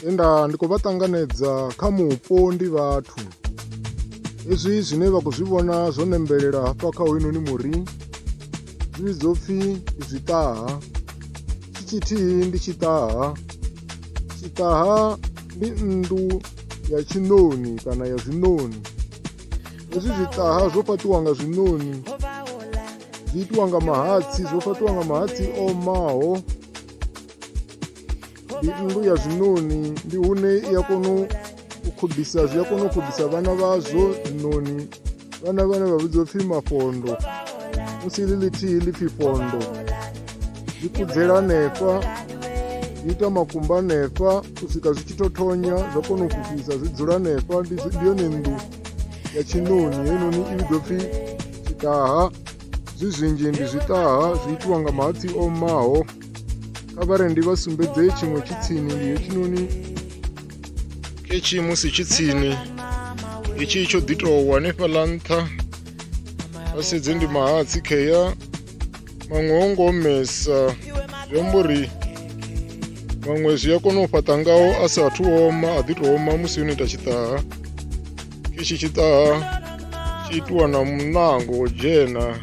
enda ndi khou vha ṱanganedza kha mupo ndi vhathu hezwi zwine vha khou zwi vhona zwo nembelela hafha kha hoyunoni muri zwi vhidzwa upfhi ndi zwiṱaha tshi tshithihi ndi tshiṱaha tshiṱaha ndi nnḓu ya tshiṋoni kana ya zwiṋoni hezwi zwiṱaha zwo fhaṱiwa nga zwiṋoni zwi itiwa nga mahatsi zwo fhaṱiwa nga mahatsi o omaho ndi nnḓu ya zwiṋoni ndi hune i a kona u khobisa zwi a kona u khobisa vhana vhazwo zwiṋoni vhana vhane vha vhidzwa pfhi mafondo musi ḽi ḽithihi ḽi pfhi fondo zwi kudzela hanefha zwi ita makumba hanefha u swika zwi tshi to thonya zwa kona u fhufhisa zwi dzula hanefha ndi yone nnḓu ya tshiṋoni heinoni i vhidzwa pfhi tshitaha zwi zwinzhi ndi zwiṱaha zwi itiwa nga mahatsi omaho kha vha re ndi vha sumbedze tshiṅwe tshi tsini ndi hetshinoni ketshi musi tshi tsini itshi tsho ḓi tou hanefhaḽa nṱha vha sedze ndi mahatsi khea maṅwe o ngo omesa zwi amba uri maṅwe zwi a kona u fhaṱa ngaho a sa athu oma a ḓi tou oma musi yo no ita tshiṱaha ichi chita chitwa na mnango jena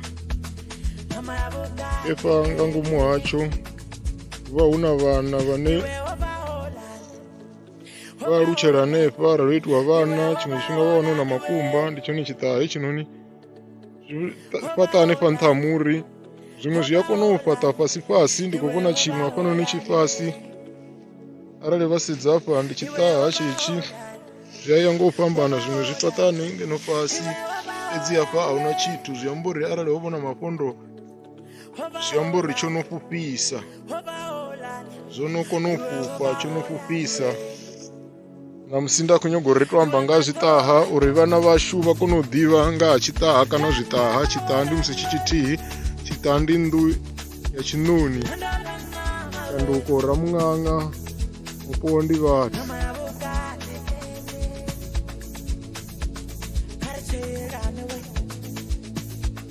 efa ngangumu hacho va huna vana vane va lutshela nefa ra itwa vana tshiṅwe tshifhinga va wana na makumba ndi tshone tshiṱahe tshinoni zwi ta- fhaṱa hanefha nṱha ha muri zwiṅwe zwi a kona u fhaṱa fhasi fhasi ndi khou vhona tshiṅwe hafhanoni tshifhasi arali vha sedza hafha ndi tshiṱaha tshitshi zwi a ya nga u fhambana zwiṅwe zwi fhaṱani ngeno fhasi fhedzi hafha a huna tshithu zwi amba uri arali ho vhona mafhondo zwi amba uri tsho no fhufhisa zwo no kona u fhufha tsho no fhufhisa ṋamusi nda khou nyago ri to amba nga zwiṱaha uri vhana vhashu vha kone u ḓivha nga ha tshiṱaha kana zwiṱaha tshiṱaha ndi musi tshi tshithihi tshiṱaha ndi nnḓu ya tshiṋoni shanduko ramuṅaṅa mupo ndi vhathu